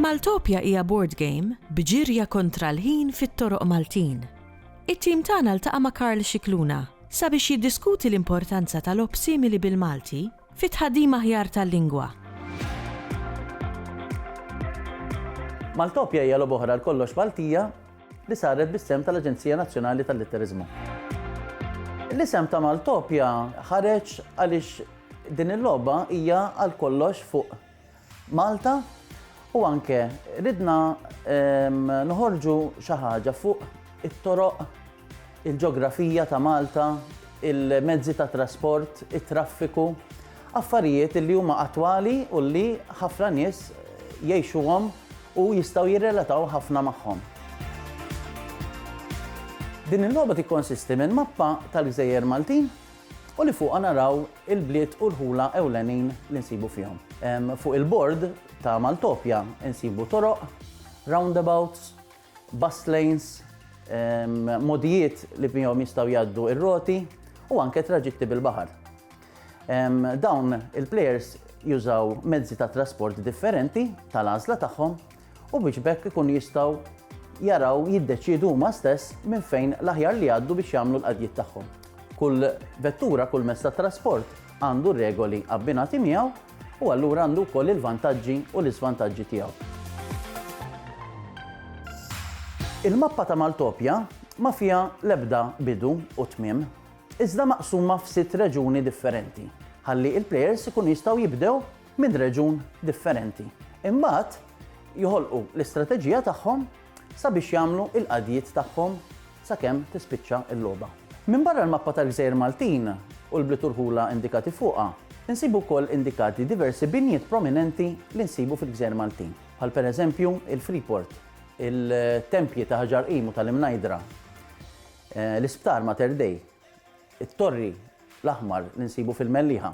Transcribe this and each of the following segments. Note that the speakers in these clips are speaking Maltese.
Maltopia hija board game b'ġirja kontra l-ħin fit-toroq Maltin. It-tim tagħna ltaqa' ma' Karl Scicluna sabiex jiddiskuti l-importanza ta' logħob simili bil-Malti Fi tħaddim aħjar tal-lingwa. Maltopja hija logħba oħra għal kollox Maltija li saret bis-sehem tal-Aġenzija Nazzjonali tal-Litteriżmu. L-isem ta' Maltopja ħareġ għaliex din il-logħba hija għal kollox fuq Malta u anke ridna noħorġu xi ħaġa fuq it-toroq, il-ġografija ta' Malta, il-mezzi ta' trasport, it-traffiku, affarijiet li huma attwali u li ħafna nies jgħixuhom u jistgħu jirrelataw ħafna magħhom. Din il-logħba tikkonsisti minn mappa tal-gżejjer Maltin u li fuqha naraw il-bliet u l-ħula ewlenin li nsibu fihom. Fuq il-bord ta' Maltopja nsibu toroq, roundabouts, bus lanes, mogħdijiet li bihom jistgħu jgħaddu r-roti u anke traġitti bil-baħar. Dawn il-plejers jużaw mezzi ta' trasport differenti tal-għażla tagħhom u biex b'hekk ikunu jistgħu jaraw jiddeċiedu huma stess minn fejn l-aħjar li jgħaddu biex jagħmlu l-qadjiet tagħhom. Kull vettura, kull mezz ta' trasport għandu r-regoli abbinati miegħu u allura għandu wkoll il-vantaġġi u l-iżvantaġġi tiegħu. Il-mappa ta' Maltopja ma fiha l-ebda bidu u tmiem, iżda maqsuma f'sitt reġuni differenti, ħalli l-plejers ikunu jistgħu jibdew minn reġjun differenti. Imbagħad joħolqu l-istrateġija tagħhom sabiex jagħmlu l-qadjiet tagħhom sakemm tispiċċa l-logħba. Minbarra l-mappa tal-gżejjer Maltin u l-bliet u rħula indikati fuqha, insibu wkoll indikati diversi binjiet prominenti li nsibu fil-gżejjer Maltin, bħal pereżempju l-Freeport, il-tempji ta' Ħaġar Qim u tal-Imnajdra, l-Isptar Mater Dei, it-Torri l-Aħmar li nsibu fil-Mellieħa.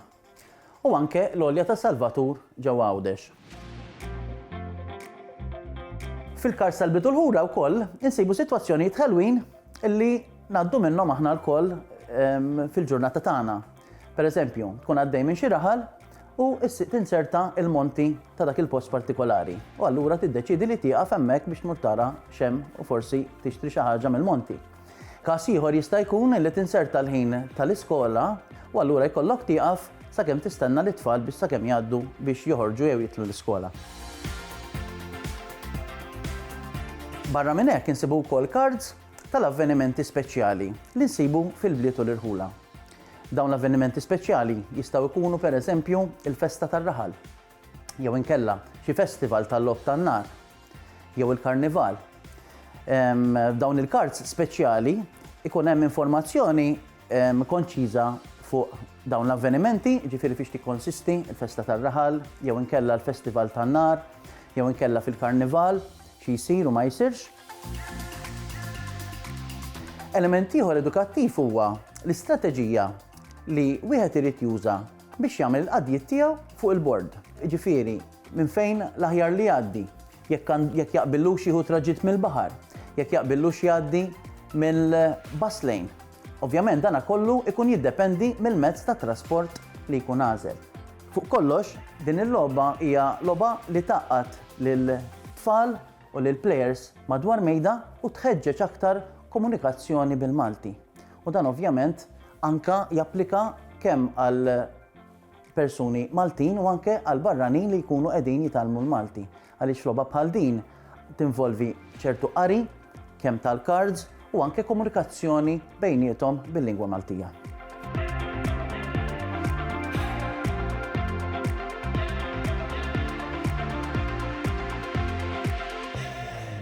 U anke l-Għolja tas-Salvatur ġewwa Għawdex. Fil-Kars tal-Bidu l-Ħura wkoll insibu sitwazzjonijiet ħelwin li ngħaddu minnhom aħna lkoll fil-ġurnata tagħna. Pereżempju, tkun għaddej minn xi raħal u tinserta il-monti ta' dak il-post partikolari. U allura tiddeċidi li tieqaf hemmhekk biex tmur tara xem u forsi tixtri xi ħaġa mill-monti. Każ ieħor jista' jkun li tinserta l-ħin tal-iskola u allura jkollok tieqaf sakemm tistenna lit-tfal biex sakemm jgħaddu biex joħorġu jew jidħlu l-iskola. Barra minn hekk insibu wkoll kards tal-avvenimenti speċjali li nsibu fil-bliet u l-irħula. Dawn l-avvenimenti speċjali jistgħu jkunu pereżempju l-festa tar-raħal, jew inkella xi festival tal-logħob tan-nar jew il-karnival. F'dawn il-kards speċjali ikun hemm informazzjoni konċiża fuq dawn l-avvenimenti, ġifieri fiex tikkonsisti l-festa tar-raħal jew inkella l-festival tan-nar jew inkella fil-karnival xi jsir u ma jsirx. Element ieħor edukattiv huwa l-istrateġija li wieħed irid juża biex jagħmel il-qadjiet tiegħu fuq il-bord, jiġifieri minn fejn l-aħjar li jgħaddi, jekk jaqbillux jieħu traġitt mill-baħar, jekk jaqbillux jgħaddi mill-bus lane. Ovvjament dan kollu jkun jiddependi mill-mezz ta' trasport li jkun għażel. Fuq kollox, din il-logħba hija logħba li tgħaqqad lill-tfal u lill-plejers madwar mejda u tħeġġeġ aktar komunikazzjoni bil-Malti. U dan ovvjament anke japplika kemm għal persuni Maltin u anke għal barranin li jkunu qegħdin jitgħallmu l-Malti. Għaliex logħba bħal din tinvolvi ċertu qari, kemm tal-cards u anke komunikazzjoni bejniethom bil-lingwa Maltija.